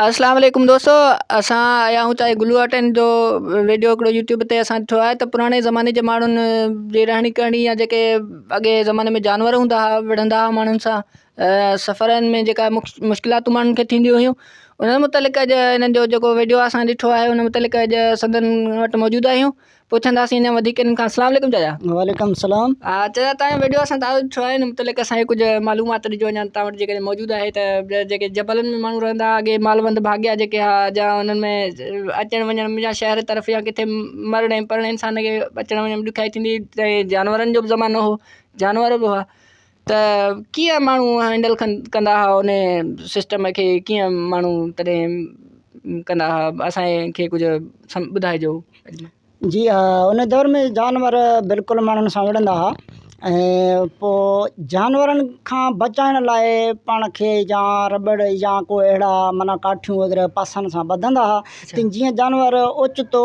اسلام عليڪم دوستو اسان آيا آهيون تاجي گلو آرٽن جو ويڊيو هڪڙو يوٽيوب تي اسان ڏٺو آهي ته پراڻي زماني جي ماڻهن جي رهڻي ڪرڻي يا جيڪي اڳي زماني ۾ جانور هوندا هئا وڙهندا هئا ماڻهن سان سفرن ۾ جيڪا مشڪلاتون ماڻهن کي ٿينديون هيون انهن متعلق اڄ انهن جو جيڪو ويڊيو اسان ڏٺو آهي ان متعلق اڄ سندن وٽ موجود آهيون پڇنداسين انهن وڌيڪ انهن کان السلام عليڪم چاچا. وعليڪم السلام. ها چاچا تنهنجو ويڊيو اسان تعارف ٿيو آهي ان متعلق اسان کي ڪجهه معلومات ڏجو اڃا توهان وٽ جيڪڏهن موجود آهي ته جيڪي جبلن ۾ ماڻهو رهندا هئا اڳي مالوند ڀاڳيا جيڪي ها جا انهن ۾ اچڻ وڃڻ ۾ يا شهر طرف يا ڪٿي مرڻ ۽ پرڻ انسان کي اچڻ وڃڻ ۾ ڏکيائي ٿيندي هئي جانورن جو به زمانو هو جانور به هئا ته ڪيئن ماڻهو هينڊل ڪندا ها ان سسٽم کي ڪيئن ماڻهو تڏهن ڪندا ها اسانکي ڪجهه ٻڌائجو جي ها ان دور ۾ جانور بلڪل ماڻهن سان وڙهندا ها ۽ پوء جانورن کان بچائڻ لاء پاڻ کي يا رٻڙ يا ڪو اهڙا معنيٰ ڪاٺيون وغيره پاسن سان ٻڌندا ها ته جيئن جانور اوچتو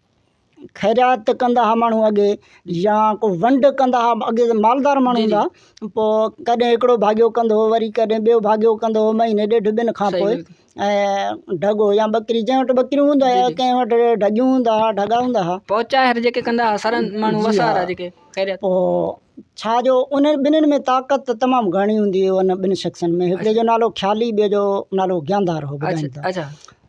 خيرات ڪندا ھئا ماڻھو اڳي يا ڪو ونڊ ڪندا ھئا اڳي جي مالدار ماڻھو ھوندا ھئا پوء ڪڏھن ھڪڙو ڀاڳيو ڪندو ھو وري ڪڏھن ٻيو ڀاڳيو ڪندو ھو مھيني ڏيڍ ٻن کان پوء ۽ ڍڳو يا ٻڪري جنھن وٽ ٻڪريون ھوندو ھا يا ڪنھن وٽ ڍڳيون ھوندا ھا ڍڳا ھوندا ھا پوء ڇا جو انھن ٻنھين ۾ طاقت ته تمام گھڻي ھوندي ھئي انھن ٻن شخصن ۾ ھڪڙي جو نالو خيالي ٻئي جو نالو گياندار ھو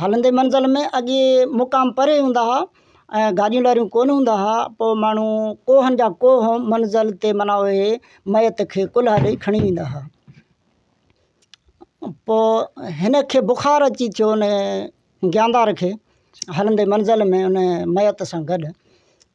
هلندي منزل ۾ اڳي مقام پري هوندا هئا ۽ گاڏيون لاڏيون ڪونه هوندا هئا پوء ماڻهو ڪوهن جا ڪوهه منزل تي منا اهي ميت کي ڪلها ڏئي کڻي ويندا هئا پوء هن کي بخار اچي ٿيو ان گياندار کي هلندي منزل ۾ ان ميت سان گڏ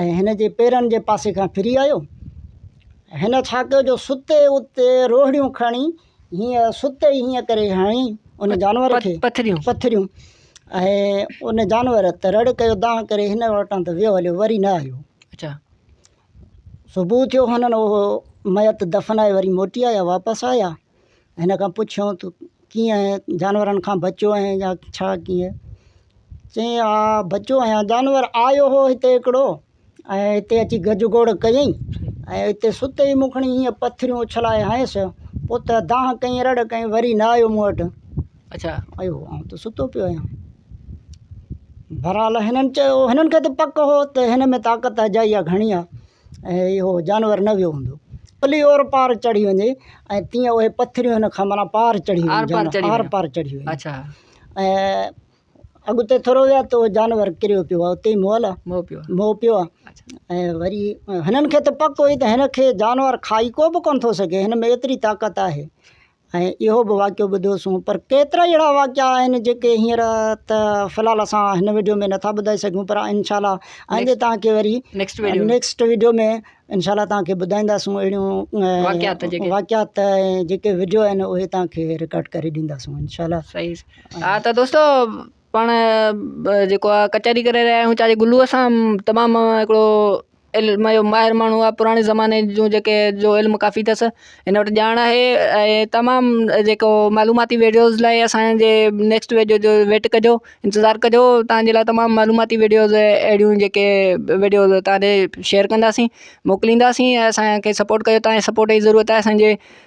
۽ هن جي پيرن جي پاسي کان ڦري آيو. هن ڇا ڪيو جو ستي اتي روهڙيون کڻي هينئن ستي ئي هينئن ڪري هڻي ان جانور کي پٿريون پٿريون ۽ ان جانور ته رڙ ڪيو دانهن ڪري هن وٽان ته ويو هليو وري نه آيو. اچا صبح ٿيو هنن اهو ميت دفنائي وري موٽي آيا واپس آيا. هن کان پڇيو ته ڪيئن جانورن کان بچيو آهي يا ڇا ڪيئن چيائين ها بچيو آهيان جانور آيو هو هتي هڪڙو ۽ هتي اچي گج گوڙ ڪيئي ۽ هتي ستي مون کڻي ائين پٿريون اڇلائي هنيس پوء ته دانهن ڪيئي رڙ ڪيئي وري نه آيو مون وٽ اچا آيو آئون ته ستو پيو آهيان بهرحال هنن چيو هنن کي ته پڪ هو ته هن ۾ طاقت اجائي آهي گهڻي آهي ۽ اهو جانور نه ويو هوندو ڀلي اور پار چڙهي وڃي ۽ تيئن اهي پٿريون هن کان معنيٰ پار چڙهي آر پار چڙهي آر پار چڙهي ويو اچا ۽ اڳتي ٿورو ويا ته اهو جانور ڪريو پيو آهي اتي مئو لا مئو پيو آهي مئو پيو آهي ۽ وري هنن کي ته پڪ هئي ته هن کي جانور کائي ڪو به ڪونه ٿو سگهي هن ۾ ايتري طاقت آهي ۽ اهو به واقعو ٻڌوسون پر ڪيترائي اهڙا واقعا آهن جيڪي هينئر ته في الحال اسان هن وڊيو ۾ نٿا ٻڌائي سگهون پر انشاء الله آئندي توهان کي وري نيڪسٽ وڊيو نيڪسٽ وڊيو ۾ انشاء الله توهان کي ٻڌائينداسون اهڙيون واقعات ۽ جيڪي وڊيو آهن اهي توهان کي رڪارڊ ڪري ڏينداسون انشاء الله صحيح ها ته دوستو پاڻ جيڪو آ ڪچهري ڪري رهيا آهيون چاري گلوء سان تمام هڪڙو علم جو ماهر ماڻهو آهي پراڻي زماني جون جيڪي جو علم ڪافي اٿس هن وٽ ڄاڻ آهي ۽ تمام جيڪو معلوماتي ويڊيوز لاء اسانجي نيڪسٽ ويڊيو جو ويٽ ڪجو انتظار ڪجو تهانجي لاء تمام معلوماتي ويڊيوز اهڙيون جيڪي ويڊيوز تهانجي شيئر ڪنداسين موڪلينداسين ۽ اسانکي سپورٽ ڪجو تهانجي سپورٽ جي ضرورت آهي اسانجي